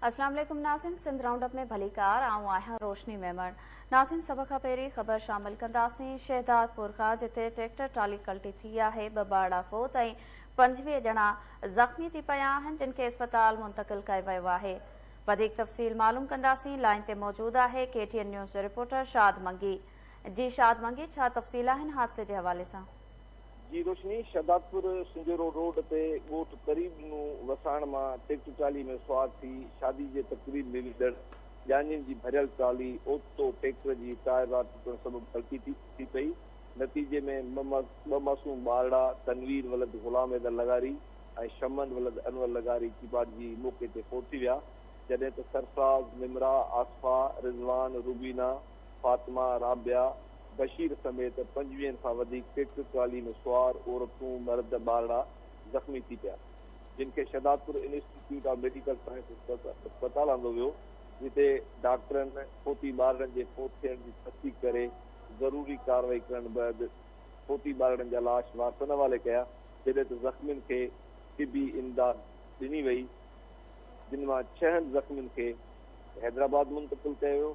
اسلام عليڪم ناظرين سنڌ رائونڊ اپ ۾ ڀليڪار آئون آهيان روشني ميمڻ ناظرين سڀ کان پهرين خبر شامل ڪنداسين شهدادپور کان جتي ٽريڪٽر ٽالي ڪلٽي ٿي آهي ٻه ٻارڙا فوت ۽ پنجويهه ڄڻا زخمي ٿي پيا آهن جن کي اسپتال منتقل ڪيو ويو آهي وڌيڪ تفصيل معلوم ڪنداسين لائين تي موجود آهي ڪي ٽي اين نيوز جو رپورٽر شاد منگي جي شاد منگي ڇا تفصيل آهن حادثي جي حوالي سان جي روشني شهدادپور سنجهورو روڊ تي ڳوٺ قريب نون وساڻ مان ٽيڪٽر ٽرالي ۾ سوار ٿي شادي جي تقريب ۾ ويندڙ جانين جي ڀريل ٽرالي اوچتو ٽيڪٽر جي ٽائر راڊ ٽٽڻ سبب ڇلڪي ٿي پئي نتيجي ۾ ٻه معصوم ٻارڙا تنوير ولد غلام حيدر لغاري ۽ شمن ولد انور لغاري چيڀاٽجي موقعي تي فوت ٿي ويا جڏهن ته سرفراز، نمرا، آصفا، رضوان، روبينا، فاطمه، رابعه، بشير سميت پنجويهن کان وڌيڪ سک، قالين سوار، عورتون، مرد، ٻارڙا زخمي ٿي پيا، جن کي Shahdadpur institute of medical sciences اسپتال آندو ويو، جتي ڊاڪٽرن فوتي ٻارڙن جي فوت ٿيڻ جي تصديق ڪري ضروري ڪارروائي ڪرڻ بعد فوتي ٻارڙن جا لاش وارثن حوالي ڪيا، جڏهن ته زخمين کي طبي امداد ڏني وئي، جن مان ڇهن زخمين کي حيدرآباد منتقل ڪيو ويو.